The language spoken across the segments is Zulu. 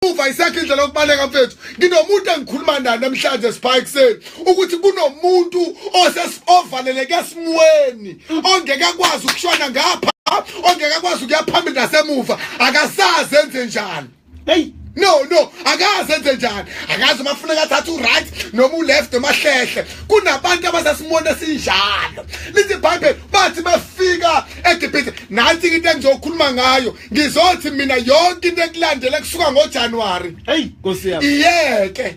uva isakhe indlela yokubaleka mfethu nginomuntu engikhuluma naye namhlanje sipha ekuseni ukuthi kunomuntu ovaleleke esimweni ongeke akwazi ukushona ngapha ongeke akwazi ukuya phambili nasemuva akasazi enze njani heyi no no akaze enze njani akazi uma kufuneka athathe uright noma uleft noma hlehle kunabantu abasesimoni esinjalo lithi ibhayibheli bathi befika egibhithe nansi-ke into engizokhuluma ngayo ngizothi mina yonke into ekulandela kusuka ngoJanuary hey nkosi yami iyeke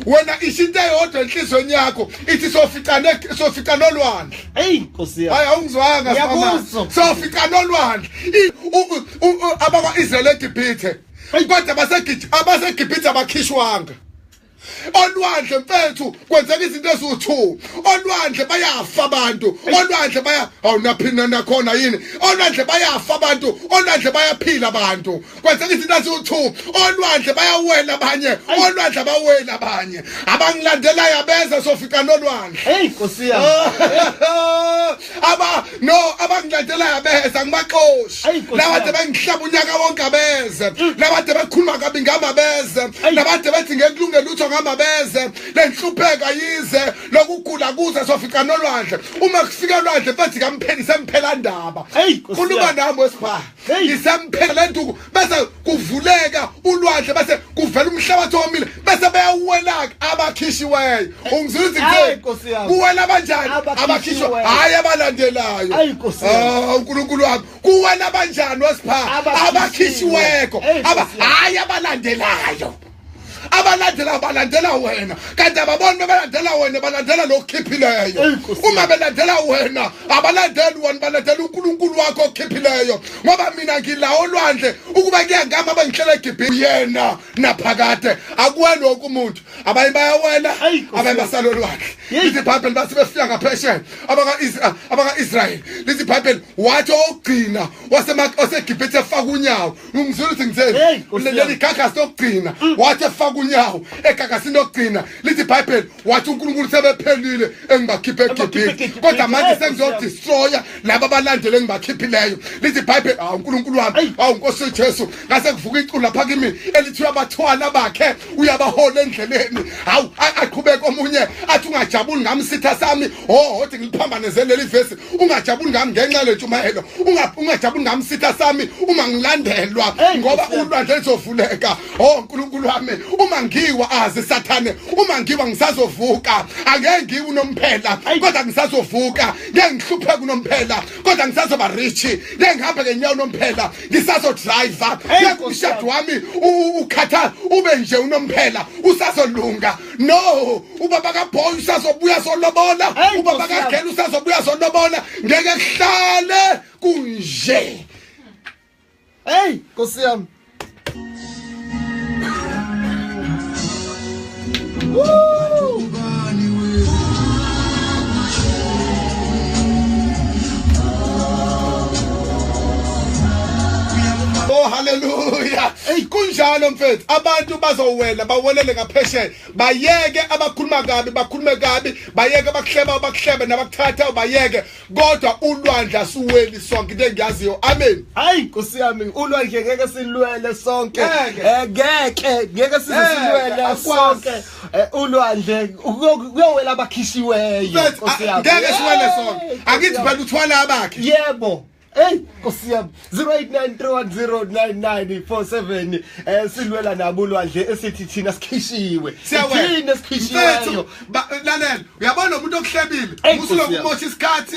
wena ishinto eyodwa enhlizweni yakho ithi soficane sofica nolwandle hey nkosi yami hayi awungizwanga sibama sofica nolwandle abakwa Israel eGibhithe kodwa basegibhithe abakhishwanga olwandle mfethu kwenzeka izinto eziwu-two olwandle bayafa abantu olwandle baya awunaphina nakhona yini olwandle bayafa abantu olwandle bayaphila abantu kwenzeka izinto eziwu-two olwandle bayawela abanye olwandle abaweli abanye abangilandelayo abeza sofikana olwandle heyi nkosi yami aba no abangilandelayo abeze angibaxoshi Ayi, Nkosi labade yami. bengihlaba unyaka wonke abeze labade bekhuluma kabi ngami abeze Ayi. labade bethi ngekulunge lutho ngami abeze lenhlupheka yize lokugula kuze sofica nolwandle uma kufika olwandle mfethi kampheni semphela ndaba Ayi, Nkosi khuluma yami. nami wesibhaha Hey. isemphela lenduku bese kuvuleka ulwandle bese kuvela umhlabathi omile bese beyawuwelaka abakhishiweyo ungizwile izinto kuwela abanjani abakhishwe hayi abalandelayo ah, uNkulunkulu wami kuwela abanjani wasipha abakhishiweko hayi abalandelayo abalandela balandela wena kanti ababoni bebalandela wena balandela lokukhiphileyo uma belandela wena abalandeli wena balandela uNkulunkulu wakho okhiphileyo ngoba mina ngila olwandle ukuba kuyangama abangihlela eGibhithe yena naphakade akuwena wonke umuntu abanye bayawela abanye basala olwandle lithi ibhayibheli bathi befika ngaphesheya abaka-israyeli lithi ibhayibheli wathi ogcina waseGibhithe efaka unyawo Ngizwile ukuthi ngitheni. Hey, Nkosi Ulele yami. igagasi lokugcina. Wathi efaka unyawo egagasini lokugcina. Lithi iBhayibheli wathi uNkulunkulu sebephelile engibakhiphe Ebakhiphe eGibhithe. eGibhithe. Kodwa manje Hey, Nkosi yami. sengizodestroya laba abalandele engibakhiphileyo. Lithi iBhayibheli awu uNkulunkulu wami, Hey. awu Nkosi uJesu, ngase kuvuka iculo lapha kimi elithiwa abathwala bakhe uyabahola endleleni. Hawu a- aqhubeke omunye athi ungajabuli ngami sitha sami hohothi ngiliphambanezele leli vesi ungajabuli ngami ngenxa lentshumayelo ungajabuli ngami sitha sami uma ngilandelwa ngoba ulwandle lizovuleka o nkulunkulu wami uma ngiwa azi sathane uma ngiwa ngisazovuka angeke ngiwe unomphela kodwa ngisazovuka ngeke ngihlupheke unomphela kodwa ngisazoba rich ngeke ngihambe ngenyawo unomphela ngisazodriver ngeke umshado wami ukhatha ube nje unomphela usazolunga no ubaba kaboy usazobuya solobola ubaba kagela usazobuya solobola ngeke kuhlale kunje hey nkosi yami Oh hallelujah. Hey kunjalo mfethu abantu bazowela bawelele ngaphesheya bayeke abakhuluma kabi bakhulume kabi bayeke abakuhleba abakuhlebe nabakuthatha bayeke kodwa ulwandle asiweli sonke into engiyaziyo amen hayi nkosi yami ulwandle ngeke silwele sonke eh, ngeke ngeke size silwele sonke eh, ulwandle kuyowela abakhishiweyo nkosi yami ngeke siwele sonke akithi phela uthwala abakhe yebo Hey Nkosi yami 0893109947 eh silwela nabo lwandle esithi thina sikhishiwe thina sikhishiweyo lalela uyabona umuntu okuhlebile usulokumosha isikhathi